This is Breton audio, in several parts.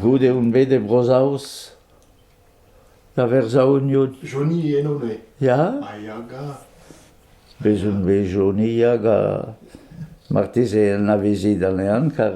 Goude on bet e Bro-Saoz da verzaouniout. Johnny eno-me. Ya? Ha Yaga. Bez on bet Johnny Yaga. Marteze anavezit anezhan, kar...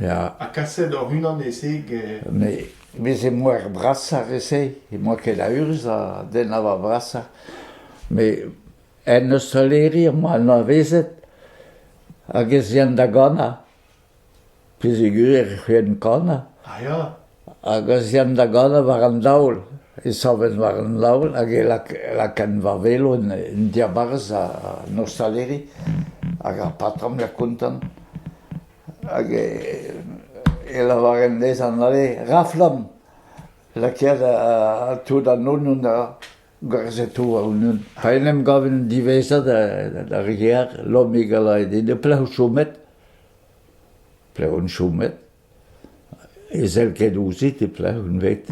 Ya. Ha kaset hoc'h-unan e-se get... Mais veze moer brasañ re-se, emañ ket a urzh ha den a oa brasañ. Mais en ostaleri emañ anavezet hag ez ean da ganañ, pezegur e c'houlenn kanañ. Ah ya? Hag ez ean da ganañ war an daol. E saven war an laon hag e laken va velo en diabarzh an ostaleri. Hag ar patrom ya kontant. Hag e lavaren dezhañ ale raflamm, lakaet tout annon da gazetou a-unnan. Ha en em gaven diwezhañ d'ar gêr. Lommig a lae din e plev chomet. Plev on chomet. E sell ket ouzhit e pleñv unvet.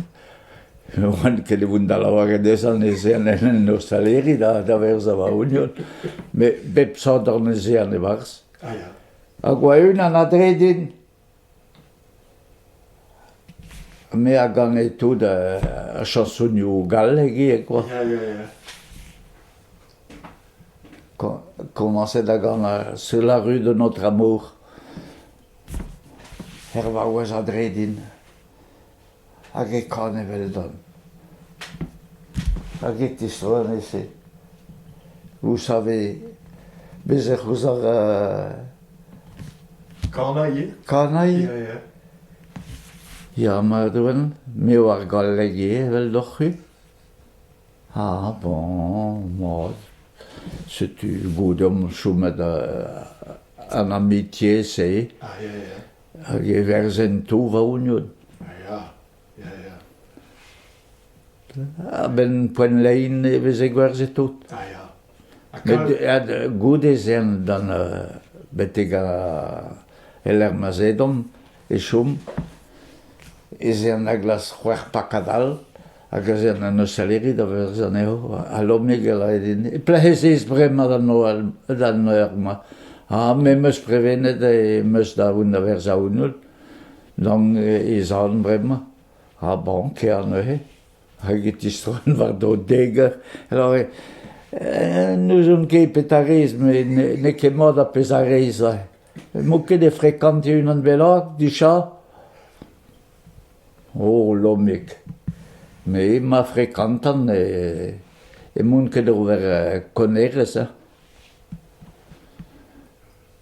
Ne oan ket e voen da lavaret dezhañ neuze en en ostaleri da da verzañ va ognon, met bep sador neuze an e-barzh. Ah ya. Hag va-unan a-dre din. Me a gane tout ar chansonioù gallek ivez, quoi. Ya, ya, ya. Ko- Komañset a gana sur la rue de notre amour. er vaouez a-dre din, hag e kan eveldon. Hag e tisoennez-se. Vous savez, bez ec'h eus ar euh, Kanailh Kanailh Ya, ya. Ya, mat oan, me oar galleg eo eveldoc'h-c'hwi. Ah bon, mod, setu bout omp chomet en amitié-se. Ah ya ya. Hag e verzen tout va-ougnout. Ah ya, ya ya. A-benn poent lein e veze gwerzhet tout. Ah ya. Met goude ez ean d'an betek e-lec'h ma 'z edon e chom, ez ean er glas c'hwec'h pakad all hag ez ean en ostaleri da verzh anezho ha Lomig a lae din e plec'hezez bremañ da Noël d'an eur-mañ ha me 'm eus prevenet e 'm eus da aoun da verzañ aoun holl, donc e zalon bremañ ha bon, kea neuze. hag e tistroan war-dro deger. Alors, n'ouzon ket petra rez, met n'eo ket mat ar pezh a rez. M'ho ket e frekantiñ unan bennak dija? O, lommig. Me ma frekantan e emaon ket ober konerezh.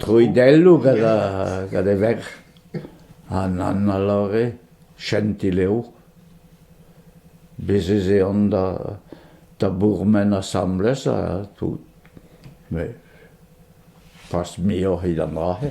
Troidelloù gant e verc'h, an Anna Lore, Chentilev. Bez' ez eont da bourmen asambles ha tout. Met pas muioc'h evit an dra-se.